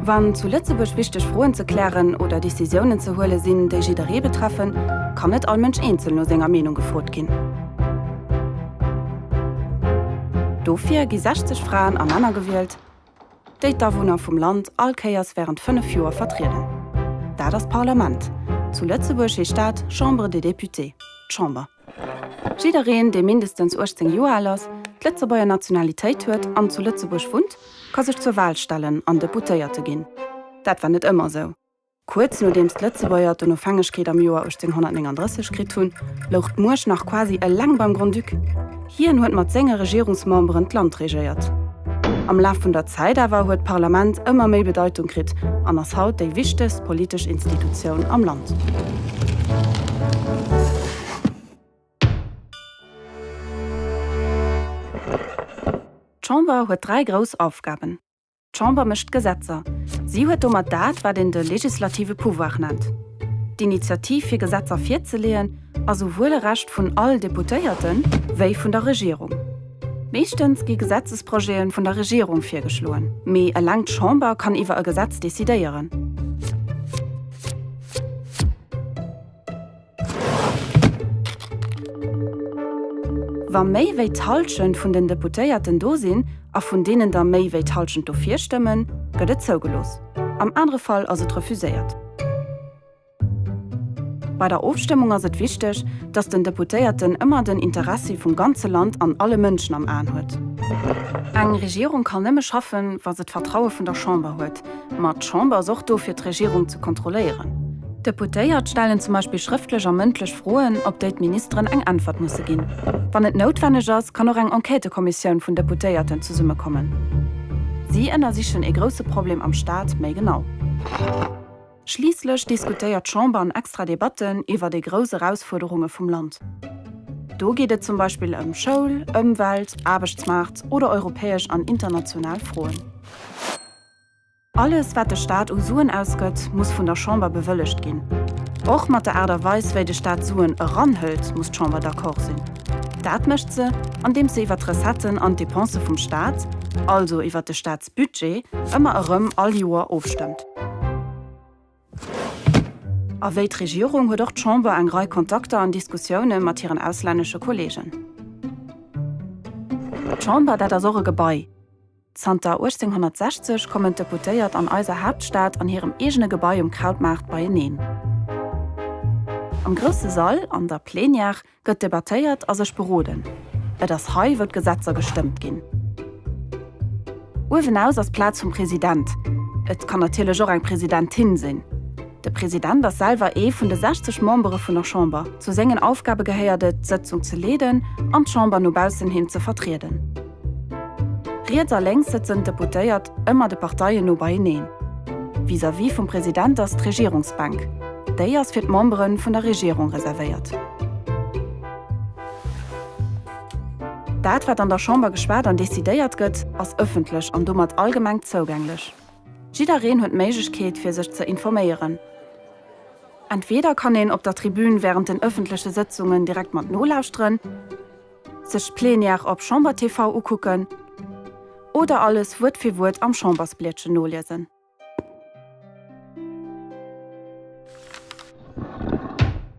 Wann zu Lëtzebuerg wichteg Froen ze klären oder Decisiounen ze huele sinn, déi jidderee betreffen, kann net all Mënsch eenzel no senger Meenung gefrot ginn. Dofir gi 60 Fraen a Männer gewielt, déi d'Awunner vum Land all Kéiers wärend fënnef Joer vertrieden. Dat ass d'Parlament. Zu Lëtzebuerg heescht dat Chambre des Députés, d'Chamber. Jiddereen, dee mindestens 18 Joer al ass, d'Lëtzebuerger Nationalitéit huet an zu Lëtzebuerg wunnt, ka sech zur Wal stellen an Deputéierte ginn. Dat war net ëmmer esou. Kuerz nodeems d'Lëtzebuerger d'Onofhängegkeet am Joer 1839 kritt hunn, louch d'Muecht nach quasi eleng beim Grand-Duc. Hien huet mat senge Regierungsmemberen d'Land regéiert. Am Laf vun der Zäit awer huet d'Parlament ëmmer méi Bedeitung kritt an ass haut déi wichtegst politesch Institutioun am Land. D'Chamber huet dräi grouss Aufgaben. D'Chamber mécht d'Gesetzer. Si huet domat dat, wat een de legislative Pouvoir nennt. D'Initiativ fir Gesetzer virzeleeën ass esouwuel e Recht vun all Deputéierte wéi vun der Regierung. Meeschtens gi Gesetzesprojete vun der Regierung virgeschloen, mee eleng d'Chamber kann iwwer e Gesetz decidéieren. Wa méi wéi d'Hallschent vun den Deputéierten do sinn a vun deenen der méi wéi d'Hallschent dofir stëmmen, gëtt et zougelooss. Am anere Fall ass et refuséiert. Bei der Ofstëmmung ass et wichteg, dass den Deputéierten ëmmer den Interessi vum ganze Land an alle Mënschen am Aen huet. Eng Regierung kann nëmme schaffen, wa se d'Vertraue vun der Chamber huet. Ma d'Chamber ass och do fir d'Regierung ze kontrolléieren. D'Deputéiert stellen zum Beispill schrëftlech a mëndlech Froen, op déi d'Ministeren eng Äntwert musse ginn. Wann et noutwenneg ass, kann och eng Enquêtëkommissioun vun Deputéierten zesummekommen. Si ënnersichen ee grousse Problem am Staat méi genau. Schliisslech diskutéiert d'Chamber an extra Debatten iwwer déi grouss Erausfuerderunge vum Land. Do geet et zum Beispill ëm Schoul, Ëmwelt, Aarbechtsmaart oder europäesch an international Froen. Alles, wat de Staat u Suen ausgëtt, muss vun der Chamber bewëllegt ginn. Och mat der Aart a Weis, wéi de Staat Suen eranhëlt, muss d'Chamber d'accord sinn. Dat mécht se, andeems se iwwert d'Recetten an d'Depensë vum Staat, also iwwert de Staatsbudget, ëmmer erëm all Joer ofstëmmt. A wéi d'Regierung huet och d'Chamber eng Rei Kontakter an Diskussioune mat hiren auslännesche Kolleegen. D'Chamber, dat ass och e Gebai. Zanter 1860 kommen d'Deputéiert an eiser Haaptstad an hirem eegene Gebai um Krautmaart beieneen. Am grousse Sall, an der Plenière, gëtt debattéiert a sech beroden. Et ass hei, wou d'Gesetzer gestëmmt ginn. Uewenaus ass d'Plaz vum President, et kann natierlech och eng Presidentin sinn. De President ass selwer ee vun de 60 Membere vun der Chamber. Zu sengen Aufgabe gehéiert et, d'Sëtzung ze leeden an d'Chamber no baussen hin ze vertrieden. Riets a lénks sëtzen d'Deputéiert, ëmmer de Parteien no beieneen. Vis-à-vis vum President ass d'Regierungsbänk. Déi ass fir d'Membere vun der Regierung reservéiert. Dat, wat an der Chamber geschwat an decidéiert gëtt, ass ëffentlech an domat allgemeng zougänglech. Jiddereen huet d'Méiglechkeet fir sech ze informéieren. Entweeder kann een op der Tribün wärend den ëffentleche Sëtzungen direkt mat nolauschteren, sech d'Plenière op Chamber TV ukucken oder alles Wuert fir Wuert am Chambersbliedchen noliesen.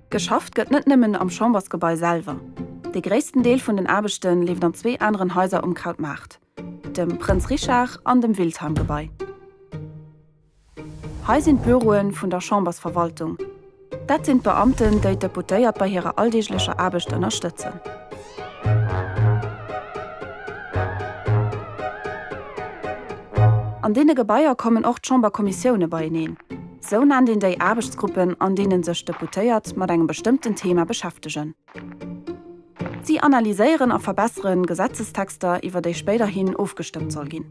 Geschafft gëtt net nëmmen am Chambersgebai selwer. De gréissten Deel vun den Aarbechte leeft an zwee aneren Haiser um Krautmaart. dem Prënz Richard an dem Wildheim-Gebai. Hei sinn d'Büroe vun der Chambersverwaltung. Dat sinn d'Beamten, déi d'Deputéiert bei hirer alldeeglecher Aarbecht ënnerstëtzen. An deene Gebaier kommen och d'Chamberkommissioune beieneen. Sou nennt een déi Aarbechtsgruppen, an deene sech d'Deputéiert mat engem bestëmmten Thema beschäftegen. Si analyséieren a verbessere Gesetzestexter, iwwer déi spéiderhin ofgestëmmt soll ginn.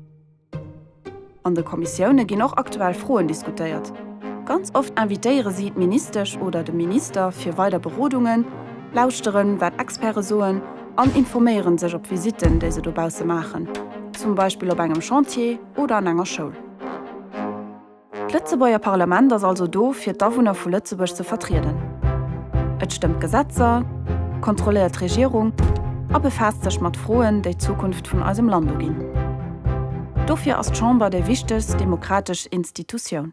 An de Kommissioune ginn och aktuell Froen diskutéiert. Ganz oft invitéiere si d'Ministesch oder de Minister fir weider Berodungen, lauschteren, wat Experte soen an informéiere sech op Visitten, déi se dobausse maachen, zum Beispill op engem Chantier oder an enger Schoul. D'Lëtzebuerger Parlament ass also do fir d'Awunner vu Lëtzebuerg ze vertrieden. Et stëmmt Gesetzer, kontrolléiert d'Regierung a befaasst sech mat Froen, déi d'Zukunft vun eisem Land uginn. Dofir ass d'Chamber déi wichtegst demokratesch Institutioun.